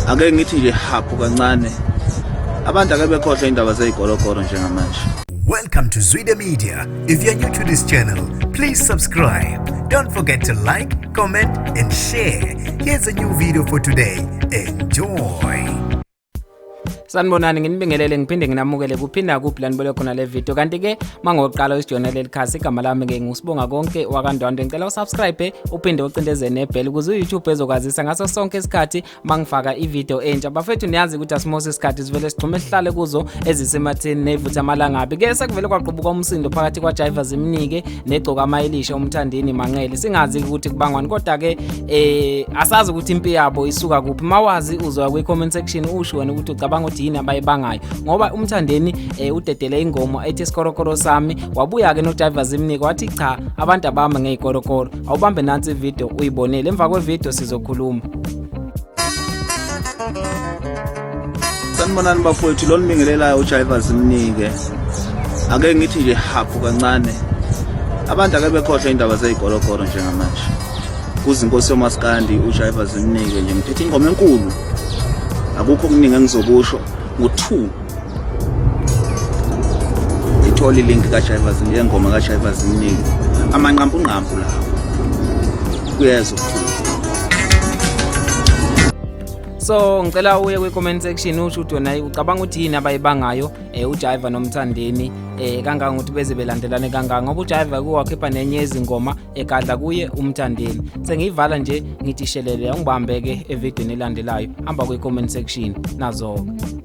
ake ngithi nje haphu kancane abantu ake bekhohlwe indaba zeyigologolo njengamanje Welcome to Zwide Media. If you're new to this channel, please subscribe. Don't forget to like, comment and share. Here's a new video for today. Enjoy. sanibonani nginibingelele ngiphinde nginamukele kuphinda kuphi la nibole khona le video kanti-ke mangoqala usijona leli khasi igama lami-ke ngusibonga konke wakandwandwe ngicela usubscribe uphinde ucindeze nebhele ukuze uyoutube ezokwazisa ngaso sonke isikhathi mangifaka ivideo entsha bafethu niyazi ukuthi asimose isikhathi sivele sigxume sihlale kuzo ezisemathini nevutha amalangabi ke sekuvele kwaqubuka umsindo phakathi kwajiva zimnike negcokama elisha umthandeni manqele singazi ukuthi kubangwani kodwa ke eh asazi ukuthi impi yabo isuka kuphi mawazi uzwa kwi comment section usho wena ukuthi ucabanga ukuthi yini abayibangayo ngoba umthandeni eh, udedele ingoma ethi sikorokoro sami wabuya ke no driver zimnike wathi cha abantu abama ngezikorokoro awubambe nansi video uyibonele emva kwe video sizokhuluma sanibonani bafowethu lo nibingelelayo ujayiva zimnike ake ngithi nje haphu kancane abantu ake bekhohlwa indaba zeyigologolo njengamanje kuzinkosi yomaskandi ujayiva zimnike nje ngiphethe ingoma enkulu akukho okuningi engizokusho ngo-two ngithole ilink kajayiva zimnike engoma kajayiva zimnike amanqampunqampu lawo kuyeza ukukhulu so ngicela uye kwi-comment section usho ukuthi wena ucabanga ukuthi yini abayibangayo um eh, ujiva nomthandeni um eh, kanganga ukuthi beze belandelane kanganga ngoba ujiva kuwakhipha nenye yezingoma egadla kuye umthandeni sengiyivala nje ngithi shelele angibambe-ke evidweni elandelayo hamba kwi-comment section nazo-ke